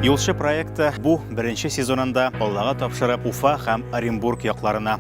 Юлчы проекты бу беренче сезонында Аллага тапшырып Уфа һәм Оренбург якларына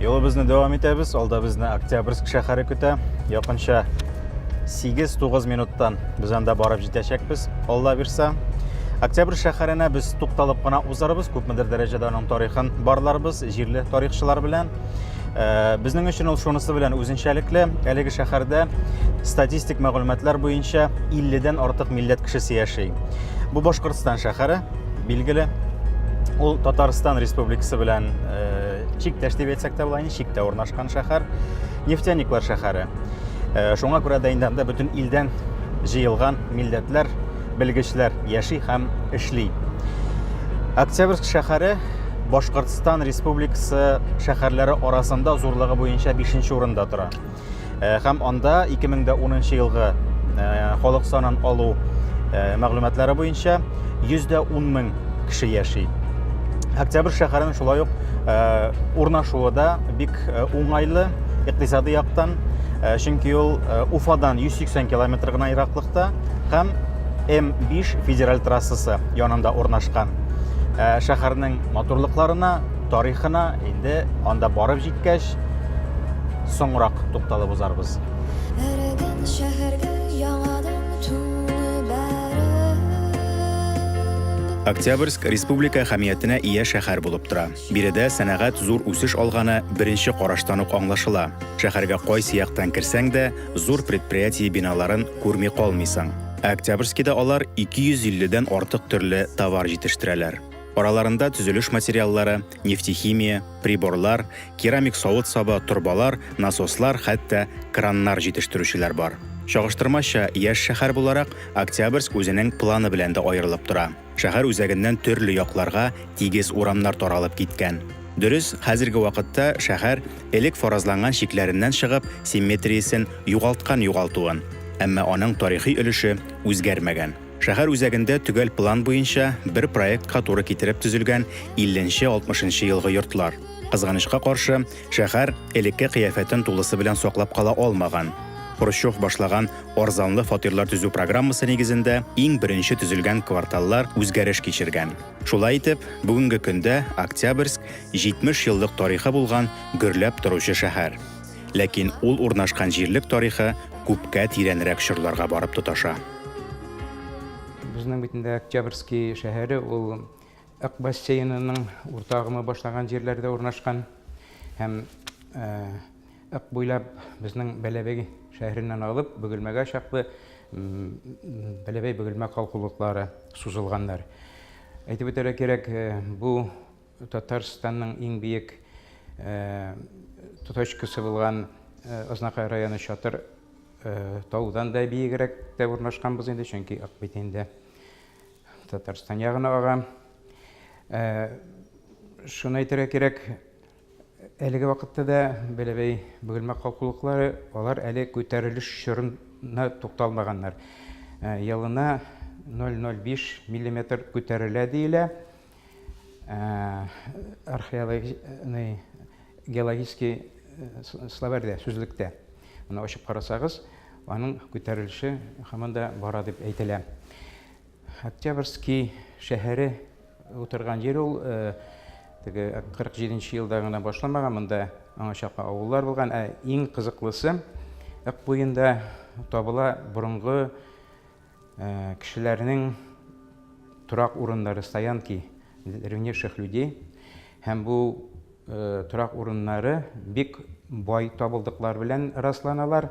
Юлыбызны дәвам итәбез. Алда безне Октябрьск шәһәре көтә. Якынча 8-9 минуттан без анда барып җитәчәкбез. Алла бирсә, Октябрь шәһәренә без тукталып кына узарбыз, күпмедер дәрәҗәдә аның тарихын барларбыз. җирле тарихчылар белән. Э, безнең өчен ул шунысы белән үзенчәлекле, әлеге шәһәрдә статистик мәгълүматлар буенча 50-дән артык милләт кешесе яши. Бу Башкортстан шәһәре, билгеле, ул Татарстан республикасы белән э, чиктәш дип әйтсәк тә була, чиктә урнашкан шәһәр, нефтяниклар шәһәре. Э, шуңа күрә дә инде анда бөтен илдән җыелган милләтләр белгечләр яши һәм эшли. Октябрьск шәһәре Башкортстан Республикасы шәһәрләре арасында зурлыгы буенча 5 нче урында тора. Э, һәм анда 2010 елгы э, халык санын алу э, мәгълүматлары буенча 110 мең кеше яши. Октябрь шәһәренең шулай ук урнашуы да бик уңайлы икътисади яктан, чөнки ул Уфадан 180 километр гына ераклыкта. һәм М5 федераль трассасы янында урнашкан. Ә, шәһәрнең матурлыкларына, тарихына инде анда барып җиткәч, соңрак тукталып узарбыз. Эрегән шәһәргә яңадан тулы бәреп. Октябрьск республика әһәмиятенә ия шәһәр булып тора. Биредә сәнәгать зур үсеш алганы беренче караштан ук аңлашыла. Шәһәргә кайсы яктан керсәң дә, зур предприятие биналарын күрми калмыйсың. Ә Октябрьскида алар 250 дән артык төрле товар җитештерәләр. Араларында төзелеш материаллары, нефтехимия, приборлар, керамик савыт-саба, торбалар, насослар, хәтта краннар җитештерүчеләр бар. Чагыштырмача яшь шәһәр буларак, Октябрьск үзенең планы белән дә аерылып тора. Шәһәр үзәгеннән төрле якларга тигез урамнар таралып киткән. Дөрес, хәзерге вакытта шәһәр, элек фаразланган чикләреннән чыгып, симметриясен югалткан югалтуын, әмма аның тарихи өлеше үзгәрмәгән. Шәһәр үзәгендә төгәл план буенча, бер проектка туры китереп төзелгән илленче-алтмышынчы елгы йортлар. Кызганычка каршы, шәһәр элекке кыяфәтен тулысы белән саклап кала алмаган. Хрущев башлаган Арзанлы фатирлар төзү программасы нигезендә иң беренче төзелгән кварталлар үзгәреш кичергән. Шулай итеп, бүгенге көндә Октябрьск 70 еллык тарихы булган гөрләп торучы шәһәр. Ләкин ул урнашкан җирлек тарихы күпкә тирәнрәк чорларга барып тоташа. Безнең бит инде Октябрьский шәһәре ул Ык бассейнының урта агымы башланган җирләрдә урнашкан һәм Ак буйлап безнең Бәләбәй шәһәреннән алып Бөгелмәгә чаклы Бәләбәй-Бөгелмә калкулыклары сузылганнар. Әйтеп үтәргә кирәк, э, бу Татарстанның иң биек э, точкасы булган э, Ознакай районы Чатыр таудан да биегрәк тә урнашканбыз инде, чөнки ак бит инде Татарстан ягына ага. Шуны әйтергә кирәк, Әлеге вакытта да Бәләбәй бөгелмә калкулыклары, алар әле күтәрелеш чорына тукталмаганнар. Э, елына 0,05 миллиметр күтәрелә диелә. Э, археологный геологический э, словарьдә, сүзлектә. Аны ачып карасагыз, аның күтәрелеше һаман да бара дип әйтелә. Октябрьский шәһәре утырган җир ул. Теге 47 нче елда гына башламаган, монда аңа чаклы авыллар булган. Ә иң кызыклысы, Ык буенда табыла борынгы кешеләрнең торак урыннары, стоянки древнейших людей. Һәм бу торак урыннары бик бай табылдыклар белән расланалар.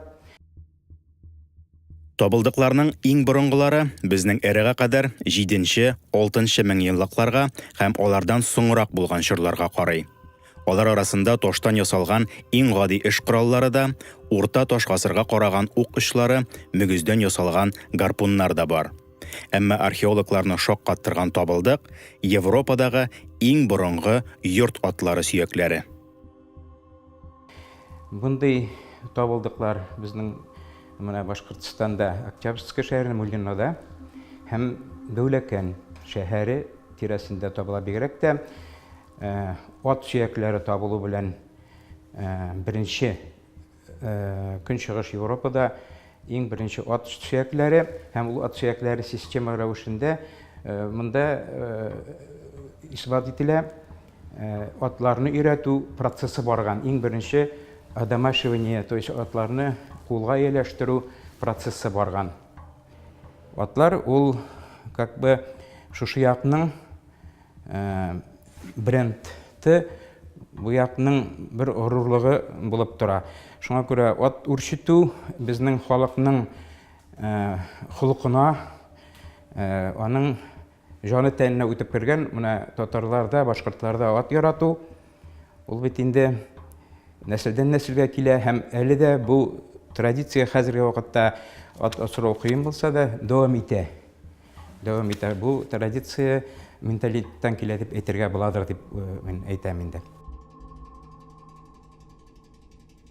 Табылдыкларның иң борынгылары безнең эрага кадәр 7-6 мең еллыкларга һәм алардан соңрак булган чорларга карый. Алар арасында таштан ясалган иң гади эш кораллары да, урта таш гасырга караган ук очлары, мөгездән ясалган гарпуннар да бар. Әмма археологларны шаккаттырган табылдык Европадагы иң борынгы йорт атлары сөякләре. Мондый табылдыклар безнең менә Башкортстанда Октябрьская шәһәре Муллинада һәм Дәүләкән шәһәре тирәсендә табыла. Бигрәк тә ат сөякләре табылу белән беренче Көнчыгыш Европада иң беренче ат сөякләре һәм ул ат сөякләре система рәвешендә монда исбат ителә. Атларны өйрәтү процессы барган. Иң беренче одомашивание, то есть атларны кулга ияләштерү процессы барган. Атлар ул как бы шушы якның брендты Буятның бер горурлыгы булып тора. Шуңа күрә ат үрчетү безнең халыкның холкына, аның җаны тәненә үтеп кергән. Менә татарларда, башкортларда ат ярату, ул бит инде нәселдән нәселгә килә һәм әле дә бу традиция хәзерге вакытта ат асрау кыен булса да дәвам итә. Дәвам итә. Бу традиция менталитеттан килә дип әйтергә буладыр дип мин әйтәм инде.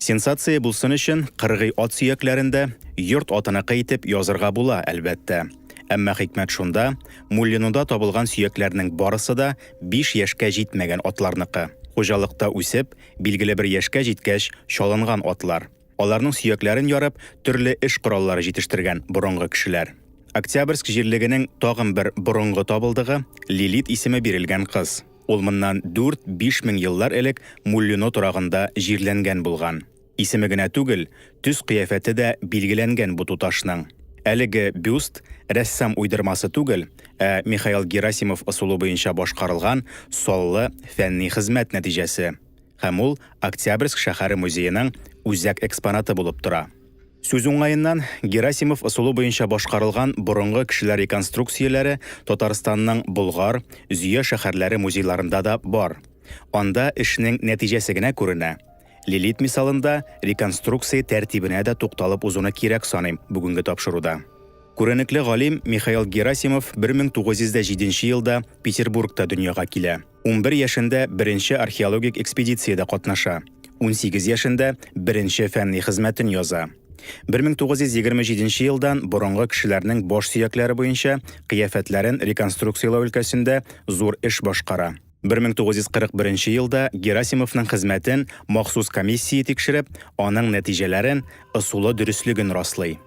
Сенсация булсын өчен, кыргый ат сөякләрен дә йорт атыныкы итеп язырга була, әлбәттә. Әмма хикмәт шунда, Муллинуда табылган сөякләрнең барысы да биш яшькә җитмәгән атларныкы. Хуҗалыкта үсеп, билгеле бер яшькә җиткәч чалынган атлар. Аларның сөякләрен ярып, төрле эш кораллары җитештергән борынгы кешеләр. Октябрьск җирлегенең тагын бер борынгы табылдыгы, Лилит исеме бирелгән кыз. Ул моннан 4-5 мең еллар элек Муллино торагында җирләнгән булган. Исеме генә түгел, төс-кыяфәте дә билгеләнгән бу туташның. Әлеге бюст, рәссам уйдырмасы түгел, ә Михаил Герасимов ысулы буенча башкарылган саллы фәнни хезмәт нәтиҗәсе. һәм ул Октябрьск шәһәре музееның үзәк экспонаты булып тора. Сүз уңаеннан, Герасимов ысулы буенча башкарылган борынгы кешеләр реконструкцияләре Татарстанның Болгар, Зөя шәһәрләре музейларында да бар. Анда эшнең нәтиҗәсе генә күренә. Лилит мисалында реконструкция тәртибенә дә тукталып узуны кирәк саныйм бүгенге тапшыруда. Күренекле галим Михаил Герасимов 1907 елда Петербургта дөньяга килә. 11 яшендә беренче археологик экспедициядә катнаша. 18 яшендә беренче фәнни хезмәтен яза. 1927 елдан борынгы кешеләрнең баш сөякләре буенча кыяфәтләрен реконструкцияләү өлкәсендә зур эш башкара. 1941 елда Герасимовның хезмәтен махсус комиссия тикшереп, аның нәтиҗәләрен, ысулы дөреслеген раслый.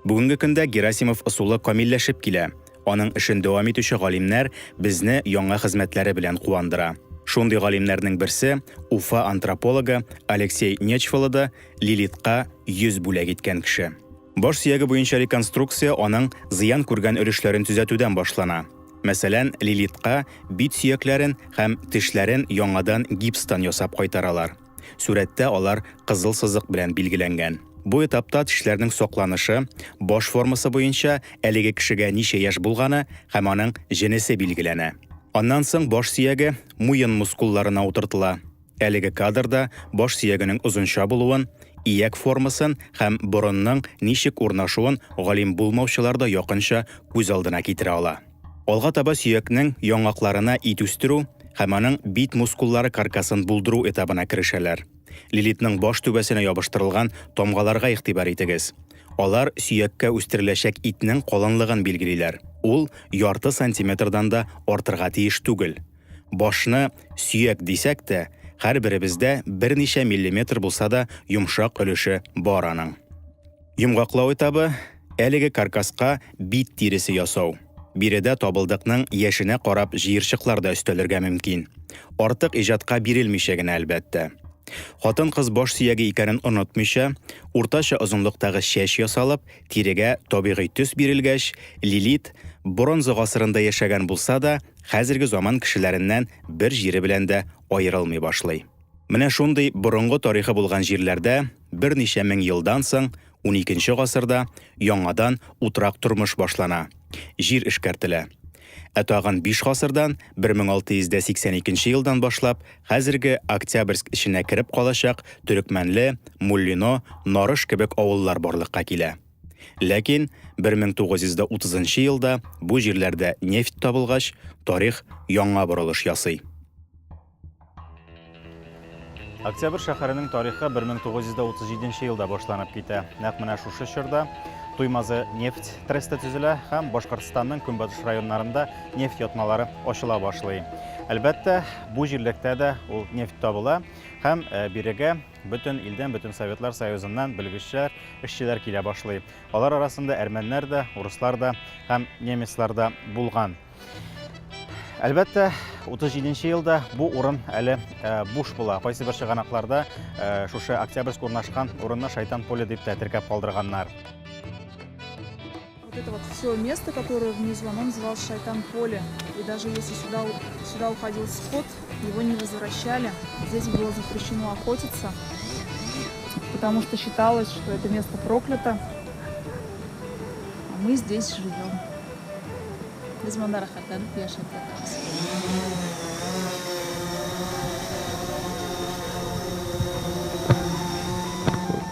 Бүгенге көндә Герасимов ысулы камилләшеп килә. Аның эшен дәвам итүче галимнәр безне яңа хезмәтләре белән куандыра. Шундый галимнәрнең берсе, Уфа антропологы Алексей Нечфалы да Лилитка йөз бүләк иткән кеше. Баш сөяге буенча реконструкция аның зыян күргән өлешләрен төзәтүдән башлана. Мәсәлән, Лилитка бит сөякләрен һәм тешләрен яңадан гипстан ясап кайтаралар. Сүрәттә алар кызыл сызык белән билгеләнгән. Бу этапта тешләрнең сакланышы, баш формасы буенча әлеге кешегә ничә яшь булганы һәм аның җенесе билгеләнә. Аннан соң баш сөяге муен мускулларына утыртыла. Әлеге кадрда баш сөягенең озынча булуын, ияк формасын һәм борынның ничек урнашуын галим булмаучылар да якынча күз алдына китерә ала. Алга таба сөякнең яңакларына ит үстерү һәм аның бит мускуллары каркасын булдыру этабына керешәләр. Лилитның баш түбәсенә ябыштырылган тамгаларга игътибар итегез. Алар сөяккә үстереләчәк итнең калынлыгын билгелиләр, ул ярты сантиметрдан да артырга тиеш түгел. Башны сөяк дисәк тә, һәрберебездә берничә миллиметр булса да йомшак өлеше бар аның. Йомгаклау этабы, әлеге каркаска бит тиресе ясау. Биредә табылдыкның яшенә карап җыерчыклар да өстәлергә мөмкин. Артык иҗатка бирелмичә генә, әлбәттә. Хатын-кыз баш сөяге икәнен онытмыйча, уртача озынлыктагы чәч ясалып, тирегә табигый төс бирелгәч, Лилит, бронза гасырында яшәгән булса да, хәзерге заман кешеләреннән бер җире белән дә аерылмый башлый. Менә шундый борынгы тарихы булган җирләрдә берничә мең елдан соң, уникенче гасырда, яңадан утрак тормыш башлана, җир эшкәртелә. Ә тагын биш гасырдан, 1682 елдан башлап, хәзерге Октябрьск эченә кереп калачак Төрекмәнле, Муллино, Нарыш кебек авыллар барлыкка килә. Ләкин 1930 елда бу җирләрдә нефть табылгач, тарих яңа борылыш ясый. Октябрь шәһәренең тарихы 1937 елда башланып китә. Нәкъ менә шушы чорда Туймазы нефть тресты төзелә һәм Башкортстанның көнбатыш районнарында нефть ятмалары ачыла башлый. Әлбәттә, бу җирлектә дә ул нефть табыла һәм э, бирегә бөтен илдән, бөтен Советлар Союзыннан белгечләр, эшчеләр килә башлый. Алар арасында әрмәннәр дә, урыслар да һәм немецлар да булган. Әлбәттә, 37 нче елда бу урын әле э, буш була. Кайсы бер чыганакларда э, шушы Октябрьск урнашкан урынны Шайтан поле дип тә теркәп калдырганнар. Вот это вот все место, которое внизу, оно называлось Шайтан поле. И даже если сюда, сюда уходил скот, его не возвращали. Здесь было запрещено охотиться, потому что считалось, что это место проклято. А мы здесь живем. Без монда рәхәтләнеп яшәп ятабыз.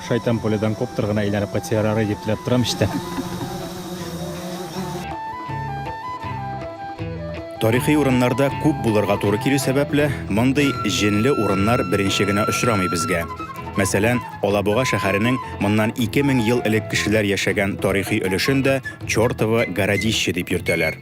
Шайтан поледан коптер гына әйләнеп кайтса ярар дип теләп торам эчтән. Тарихи урыннарда күп булырга туры килү сәбәпле, мондый җенле урыннар беренче генә очрамый безгә. Мәсәлән, Алабуга шәһәренең моннан ике мең ел элек кешеләр яшәгән тарихи өлешен дә Чертово городище дип йөртәләр.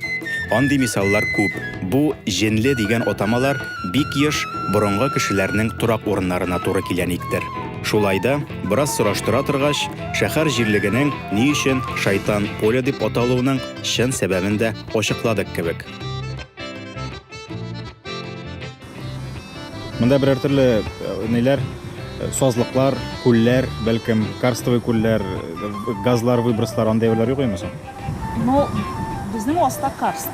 Андый мисаллар күп. Бу җенле дигән атамалар бик еш борынгы кешеләрнең торак урыннарына туры килә никтер. Шулай да, бераз сораштыра торгач, шәһәр җирлегенең ни өчен Шайтан поле дип аталуының чын сәбәбен дә ачыкладык кебек. Монда берәр төрле ниләр, сазлыклар, күлләр, бәлкем, карстовый күлләр, газлар, выброслар, андый әйберләр юк имесә? Ну, безнең аста карст.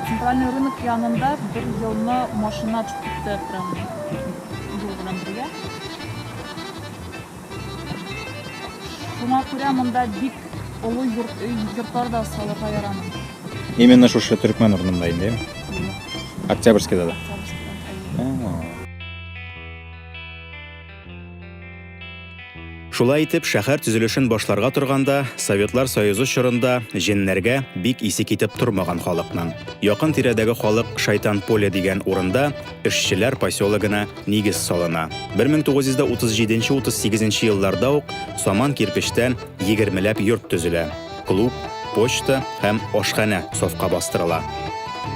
Центральный рынок янында бер елны машина төшеп китте прям юл белән бергә. Шуңа күрә монда бик олы йорт, өй, йортлар да салырга ярамый. Именно шушы төркмән урынында инде. Октябрьскийда да. Шулай итеп, шәһәр төзелешен башларга торганда, Советлар Союзы чорында җеннәргә бик исе китеп тормаган халыкның. Якын тирәдәге халык Шайтан поле дигән урында эшчеләр поселогына нигез салына. 1937-38 нче елларда ук саман кирпечтән егермеләп йорт төзелә, клуб, почта һәм ашханә сафка бастырыла.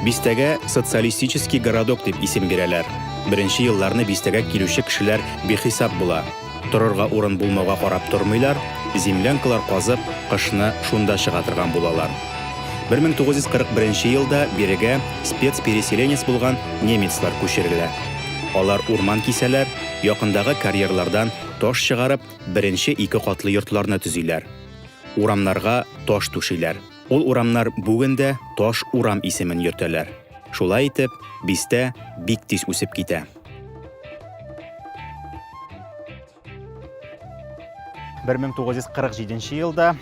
Бистәгә Социалистический городок дип исем бирәләр. Беренче елларны бистәгә килүче кешеләр бихисап була. Торырга урын булмауга карап тормыйлар, землянкалар казып, кышны шунда чыга торган булалар. 1941 елда бирегә спецпереселенец булган немецлар күчерелә. Алар урман кисәләр, якындагы карьерлардан таш чыгарып, беренче ике катлы йортларны төзиләр. Урамнарга таш түшиләр. Ул урамнар бүген дә Таш урам исемен йөртәләр. Шулай итеп, бистә бик тиз үсеп китә. Бер мең тугыз йөз кырык җиденче елда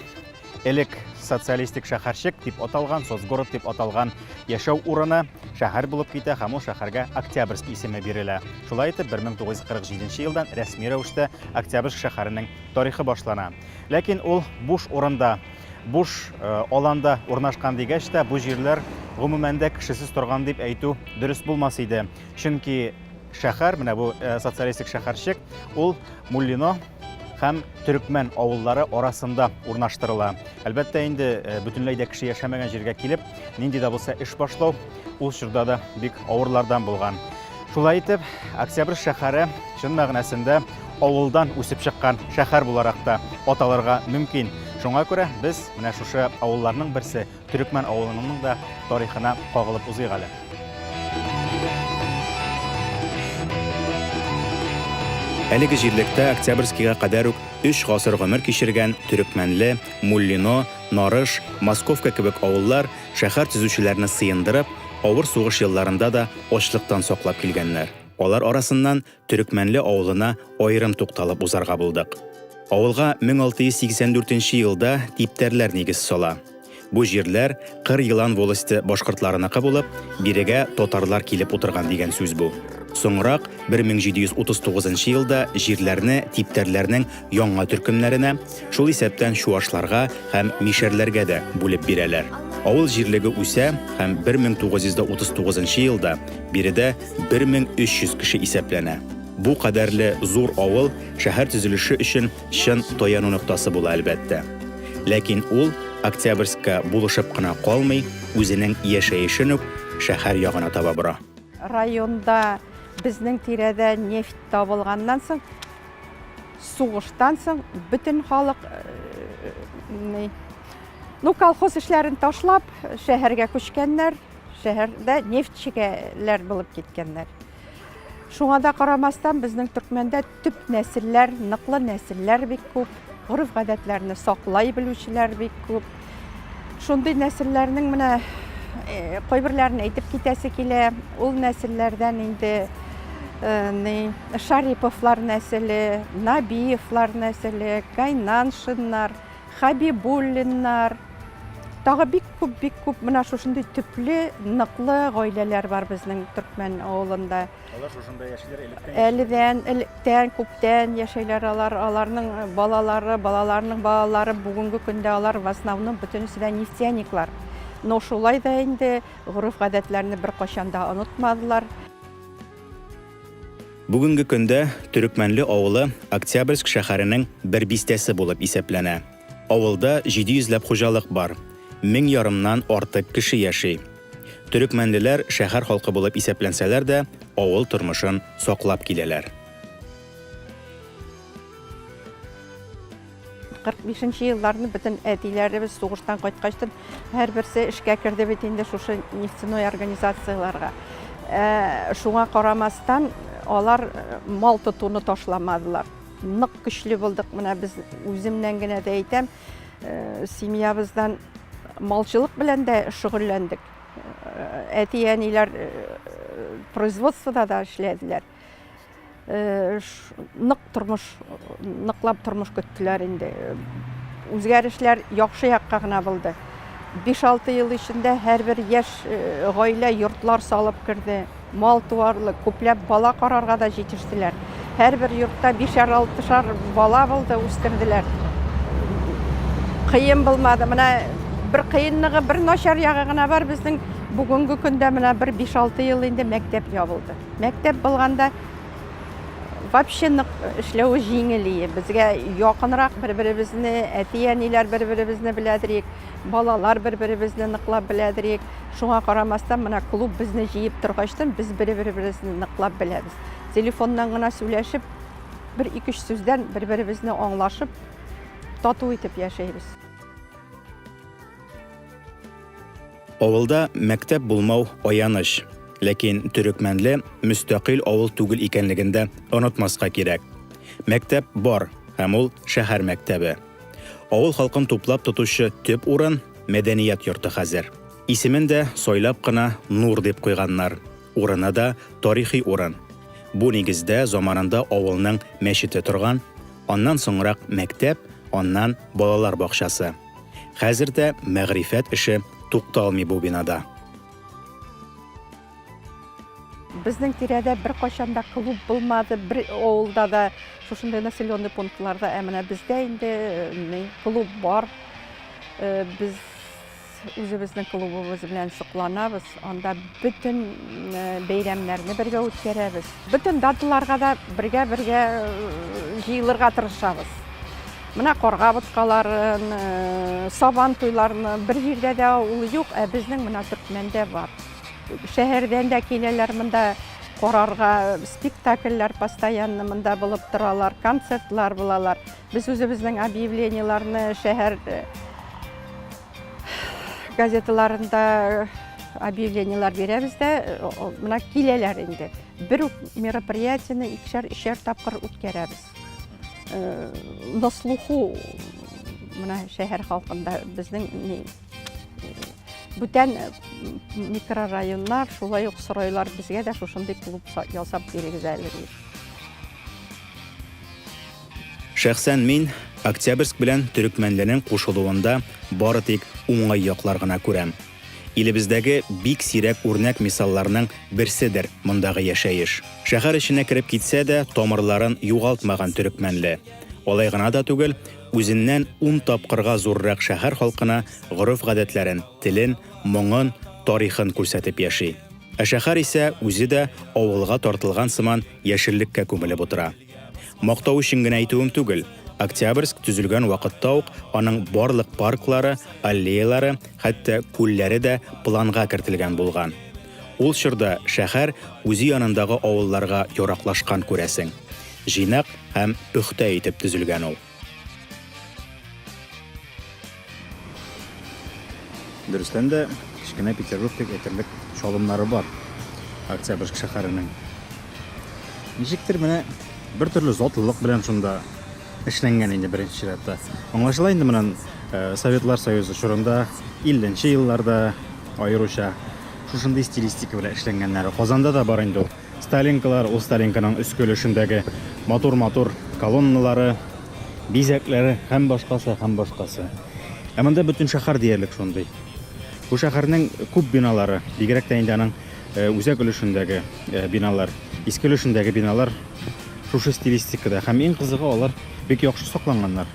элек социалистик шәһәрчек дип аталган, соцгород дип аталган яшәү урыны шәһәр булып китә һәм ул шәһәргә Октябрьск исеме бирелә. Шулай итеп, 1947 елдан рәсми рәвештә Октябрьск шәһәренең тарихы башлана. Ләкин ул буш урында буш аланда урнашкан дигәч тә, бу җирләр гомумән дә кешесез торган дип әйтү дөрес булмас иде. Чөнки шәһәр, менә бу социалистик шәһәрчек, ул Муллино һәм Төрекмән авыллары арасында урнаштырыла. Әлбәттә инде, бөтенләй дә кеше яшәмәгән җиргә килеп, нинди дә булса эш башлау ул чорда да бик авырлардан булган. Шулай итеп, Октябрь шәһәре чын мәгънәсендә авылдан үсеп чыккан шәһәр буларак та аталарга мөмкин. Шуңа күрә без менә шушы авылларның берсе Төрекмән авылының да тарихына кагылып узыйк әле. Әлеге җирлектә Октябрьскийга кадәр үк өч гасыр гомер кичергән Төрекмәнле, Муллино, Нарыш, Московка кебек авыллар Шәһәр төзүчеләрне сыендырып, авыр сугыш елларында да ачлыктан саклап килгәннәр. Алар арасыннан Төрекмәнле авылына аерым тукталып узарга булдык. Авылга 1684 нче елда типтәрләр нигез сала. Бу җирләр Кыр Елан волосте башкортларыныкы булып, бирегә татарлар килеп утырган дигән сүз бу. Соңрак, 1739 нчы елда җирләрне типтәрләрнең яңа төркемнәренә, Шул исәптән чуашларга һәм мишәрләргә дә бүлеп бирәләр. Авыл җирлеге үсә һәм 1939 елда биредә 1300 кеше исәпләнә. Бу кадәрле зур авыл шәһәр төзелеше өчен чын таяну ноктасы була, әлбәттә. Ләкин ул Октябрьскка булышып кына калмый, үзенең яшәешен үк шәһәр ягына таба бора. Районда безнең тирәдә нефть табылганнан соң, Сугыштан соң бөтен халык ну колхоз эшләрен ташлап шәһәргә күчкәннәр, шәһәрдә нефтьчегәләр булып киткәннәр. Шуңа да карамастан безнең төркмәндә төп нәселләр, ныклы нәселләр бик күп, гореф-гадәтләрне саклай белүчеләр бик күп. Шундый нәселләрнең менә кайберләрен әйтеп китәсе килә. Ул нәселләрдән инде Шариповлар нәселе, Набиевлар нәселе, Кайнаншиннар, Хабибуллиннар, тагы бик күп бик күп менә шушындый төпле ныклы гаиләләр бар безнең төркмән авылында Алар шушында яшиләр электән? Әледән, электән, күптән яшәйләр алар. Аларның э, балалары, балаларның балалары бүгенге көндә алар в основном бөтенесе дә нефтяниклар. Но шулай да инде гореф-гадәтләрне беркайчан да онытмадылар. Бүгенге көндә Төрекмәнле авылы Октябрьск шәһәренең бер бистәсе булып исәпләнә. Авылда 700 ләп хуҗалык бар, мең ярымнан артык кеше яши. Төрекмәнлеләр шәһәр халкы булып исәпләнсәләр дә, авыл тормышын саклап киләләр. 45 нче елларны бөтен әтиләребез сугыштан кайткачтын, һәрберсе эшкә керде бит инде шушы нефтяной организацияләргә. Шуңа карамастан, алар мал тотуны ташламадылар. Нык көчле булдык, менә без үземнән генә дә әйтәм, э, семьябыздан малчылык белән дә шөгыльләндек. Э, әти-әниләр э, производствода да эшләделәр. Нык тормыш, ныклап тормыш көттеләр инде. Үзгәрешләр яхшы якка гына булды. 5-6 ел эчендә һәрбер яшь гаилә йортлар салып керде, Мал туарлык, күпләп бала карарга да җитештеләр. Һәрбер йортта бишәр-алтышар бала булды, үстерделәр. Кыен булмады. Менә бер кыенлыгы, бер начар ягы гына бар, безнең бүгенге көндә менә бер 5-6 ел инде мәктәп ябылды. Мәктәп булганда вообще нык эшләве җиңел ие. Безгә якынрак бер-беребезне, әти-әниләр бер-беребезне беләдерик, балалар бер-беребезне ныклап беләдерик. Шуңа карамастан, менә клуб безне җыеп торгачтан, без бер-беребезне ныклап беләбез. Телефоннан гына сөйләшеп, бер ике-өч сүздән бер-беребезне аңлашып, тату итеп яшәйбез. Авылда мәктәп булмау, аяныч. Ләкин Төрекмәнле мөстәкыйль авыл түгел икәнлеген дә онытмаска кирәк. Мәктәп бар, һәм ул шәһәр мәктәбе. Авыл халкын туплап тотучы төп урын мәдәният йорты хәзер. Исемен дә сайлап кына Нур дип куйганнар. Урыны да тарихи урын. Бу нигездә заманында авылның мәчете торган, аннан соңрак мәктәп, аннан балалар бакчасы. Хәзер дә мәгърифәт эше тукталмый бу бинада. Безнең тирәдә беркайчан да клуб булмады, бер авылда да, шушындый населенный пунктларда, ә менә бездә инде э, клуб бар. Э, без үзебезнең клубыбыз белән сокланабыз. Анда бөтен э, бәйрәмнәрне бергә үткәрәбез. Бөтен даталарга да бергә-бергә җыелырга тырышабыз. Менә карга боткаларын, сабан туйларын бер җирдә дә ул юк, ә безнең менә Төркмәндә бар. Шәһәрдән дә киләләр монда карарга, спектакльләр постоянно монда булып торалар, концертлар булалар. Без үзебезнең объявлениеләрне шәһәр э, газеталарында э, объявлениеләр бирәбез дә, э, менә киләләр инде. Бер үк мероприятияне икешәр, өчәр тапкыр үткәрәбез. На слуху менә шәһәр халкында безнең бүтән э, микрорайоннар шулай ук сорайлар безгә дә шушындый клуб ясап бирегез әле ди шәхсән мин октябрьск белән төрекмәнләрнең кушылуында бары тик уңай яклар гына күрәм илебездәге бик сирәк үрнәк мисалларның берседер мондагы яшәеш шәһәр эченә кереп китсә дә тамырларын югалтмаган төрекмәнле алай гына да түгел Үзеннән ун тапкырга зуррак шәһәр халкына гореф-гадәтләрен, телен, моңын, тарихын күрсәтеп яши. Ә шәһәр исә үзе дә авылга тартылган сыман яшеллеккә күмелеп утыра. Мактау өчен генә әйтүем түгел, Октябрьск төзелгән вакытта ук аның барлык парклары, аллеялары, хәтта күлләре дә планга кертелгән булган. Ул чорда шәһәр үзе янындагы авылларга яраклашкан күрәсең. Җыйнак һәм пөхтә итеп төзелгән ул. Дөрестән дә, кечкенә Петербург дип әйтерлек чалымнары бар Октябрьск шәһәренең. Ничектер менә бертөрле затлылык белән шунда. эшләнгән инде беренче чиратта. Аңлашыла инде моннан Советлар Союзы чорында 50 нче елларда аеруча шушындый стилистика белән эшләнгәннәре. Казанда да бар инде ул. Сталинкалар, ул Сталинканың өске өлешендәге матур-матур колонналары, бизәкләре һәм башкасы, һәм башкасы. Ә монда бөтен шәһәр диярлек шундый. Бу шәһәрнең күп биналары, бигрәк тә инде аның Үзәк өлешендәге биналар, иске өлешендәге биналар шушы стилистикада һәм иң кызыгы алар бик яхшы сакланганнар.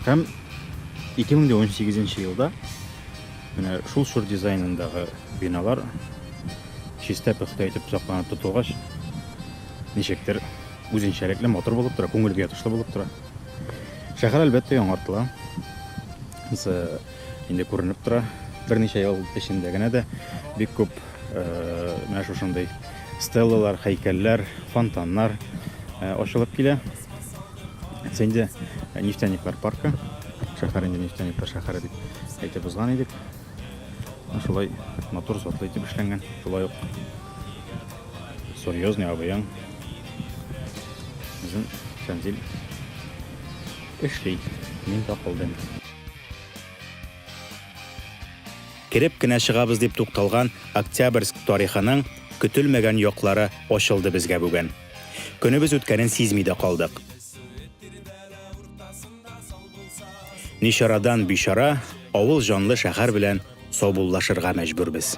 Һәм 2018 елда менә шул чор дизайнындагы биналар чиста пөхтә итеп сакланып тотылгач, ничектер үзенчәлекле матур булып тора, күңелгә ятышлы булып тора. Шәһәр әлбәттә яңартыла. инде күренеп тора. Берничә ел эчендә генә дә бик күп менә шушындый стеллалар, хәйкәлләр, фонтаннар ачылып килә. Әйтсә инде нефтяниклар паркы, шәһәр инде нефтяниклар шәһәре дип әйтеп узган идек. Шулай матур затлы итеп эшләнгән. Шулай ук серьезный абыяң Bizim Şenzil Işli Minta Holding. Кереп кенә чыгабыз дип тукталган Октябрьск тарихының көтелмәгән яклары ачылды безгә бүген. Көнебез үткәнен сизми дә калдык. Ничарадан бичара авыл җанлы шәһәр белән саубуллашырга мәҗбүрбез.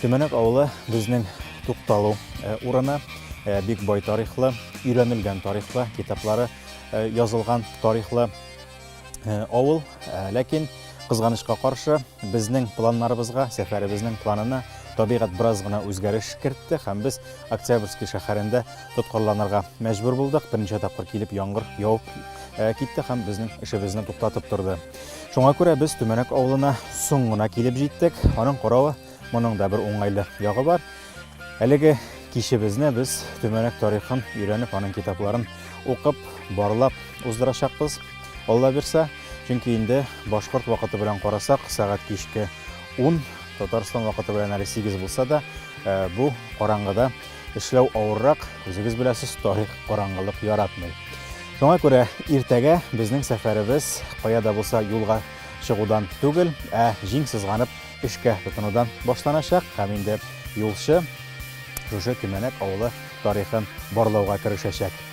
Төмәнәк авылы безнең тукталу э, урыны, э, бик бай тарихлы, өйрәнелгән тарихлы, китаплары э, язылган тарихлы авыл. Ләкин кызганычка каршы безнең планнарыбызга, сәфәребезнең планына табигать бераз гына үзгәреш кертте һәм без Октябрьский шәһәрендә тоткарланырга мәҗбүр булдык. Берничә тапкыр килеп яңгыр явып китте һәм безнең эшебезне туктатып торды. Шуңа күрә без Төмәнәк авылына соң гына килеп җиттек. Аның каравы, моның да бер уңайлы ягы бар. Әлеге кичебезне без Төмәнәк тарихын өйрәнеп, аның китапларын укып, барлап уздырачакбыз. Алла бирсә, чөнки инде башкорт вакыты белән карасак, сәгать кичке 10, Татарстан вакыты белән әле 8 булса да, э, бу караңгыда Эшләү авыррак, үзегез беләсез, тарих караңгылык яратмый. Шуңа күрә иртәгә безнең сәфәребез кая да булса юлга чыгудан түгел, ә җиң сызганып эшкә тотынудан башланачак һәм инде юлчы шушы Кимәнәк авылы тарихын барлауга керешәчәк.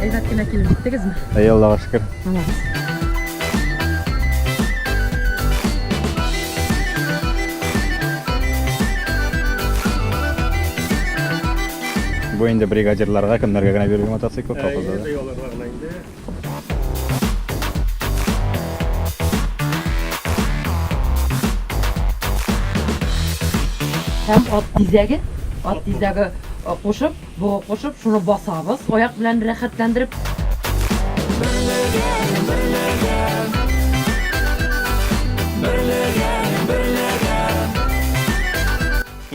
Әйбәт кенә килеп җиттегезме? Әй, Аллага шөкер. Молодец. Бу инде бригадирларга, кемнәргә генә бирелгән мотоцикл, колхозларга. Әйе, аларга гына инде. Һәм ат тизәге, ат тизәге кушып, бугы кушып, шуны басабыз аяк белән рәхәтләндереп.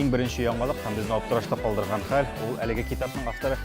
Иң беренче яңалык һәм безне аптырашта калдырган хәл, ул әлеге китапның авторы